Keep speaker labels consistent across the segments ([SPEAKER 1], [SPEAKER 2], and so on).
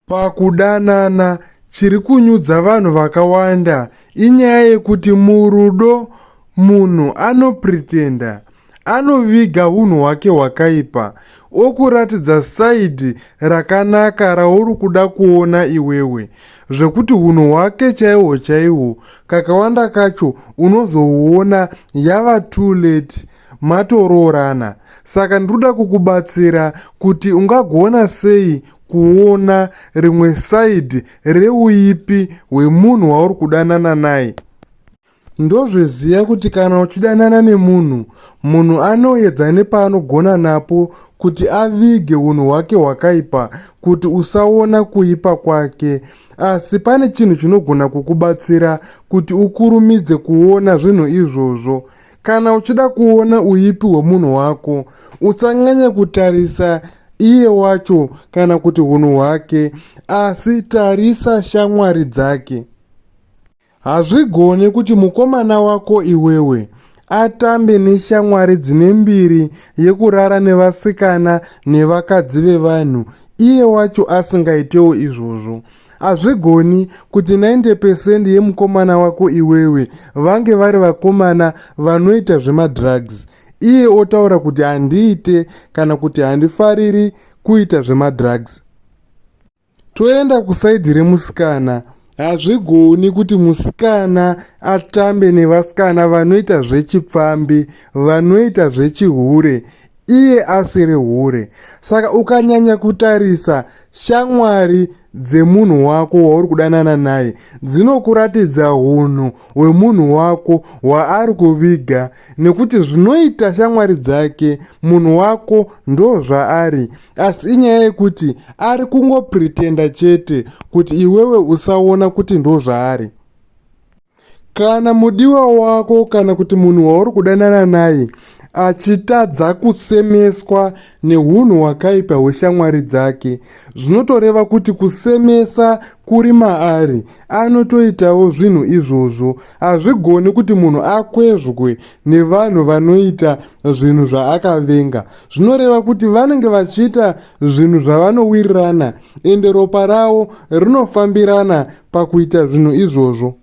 [SPEAKER 1] Pakudanana, chiri kunyudza vanhu vakawanda inyaya yekuti murudo munhu anopretenda, anoviga unhu hwake hwakaipa okuratidza side rakanaka rauri kuda kuona iwewe zvekuti unhu hwake chaihwo chaihwo kakawanda kacho unozohuona yava too late matoroorana. Saka ndiri kuda kukubatsira kuti ungagona sei kuona rimwe side reuipi hwemunhu wauri kudanana naye ndozviziva kuti kana uchidanana nemunhu munhu anoedza nepaanogona napo kuti avige unhu hwake hwakaipa kuti usaona kuipa kwake asi pane chinhu chinogona kukubatsira kuti ukurumidze kuona zvinhu izvozvo Kana uchida kuona uipi hwemunhu wako, usanyanya kutarisa iye wacho kana kuti unhu hwake, asi tarisa shamwari dzake. Hazvigone kuti mukomana wako iwewe atambe neshamwari dzine mbiri yekurara nevasikana nevakadzi vevanhu iye wacho asingaitewo izvozvo hazvigoni kuti 90 percent yemukomana wako iwewe vange vari vakomana vanoita zvemadrugs iye otaura kuti handiite kana kuti handifariri kuita zvemadrugs toenda kusaidhi remusikana hazvigoni kuti musikana atambe nevasikana vanoita zvechipfambi vanoita zvechihure iye asiri hure saka ukanyanya kutarisa shamwari dzemunhu wako wauri kudanana naye dzinokuratidza unhu hwemunhu wako hwaari kuviga nekuti zvinoita shamwari dzake munhu wako ndo zvaari asi inyaya yekuti ari kungopretenda chete kuti iwewe usaona kuti ndo zvaari Kana mudiwa wako kana kuti munhu wauri kudanana naye achitadza kusemeswa neunhu hwakaipa hweshamwari dzake zvinotoreva kuti kusemesa kuri maari anotoitawo zvinhu izvozvo hazvigoni kuti munhu akwezvwe nevanhu vanoita zvinhu zvaakavenga zvinoreva kuti vanenge vachiita zvinhu zvavanowirirana ende ropa ravo rinofambirana pakuita zvinhu izvozvo.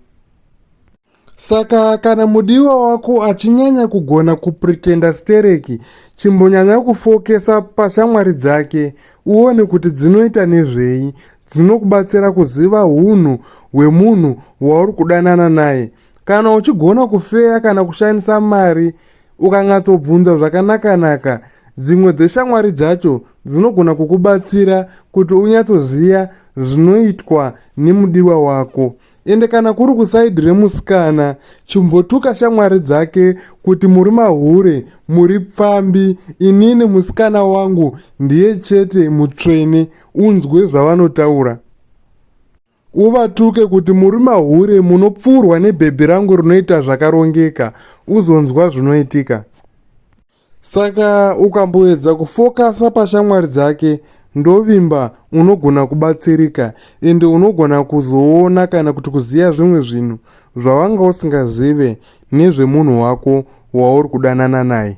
[SPEAKER 1] Saka kana mudiwa wako achinyanya kugona kupretenda stereki, chimbonyanya kufokesa pashamwari dzake uone kuti dzinoita nezvei. Dzinokubatsira kuziva unhu hwemunhu wauri kudanana naye. kana uchigona kufeya kana kushandisa mari ukanyatsobvunza zvakanakanaka dzimwe dzeshamwari dzacho dzinogona kukubatsira kuti unyatsoziva zvinoitwa nemudiwa wako ende kana kuri kusaidi remusikana chimbotuka shamwari dzake kuti muri mahure muri pfambi inini musikana wangu ndiye chete mutsvene unzwe zvavanotaura Uvatuke kuti muri mahure munopfuurwa nebhebhi rangu rinoita zvakarongeka uzonzwa zvinoitika. Saka ukamboedza kufokasa pashamwari dzake ndovimba unogona kubatsirika ende unogona kuzoona kana kuti kuziva zvimwe zvinhu zvawanga usingazive nezvemunhu wako wauri kudanana naye.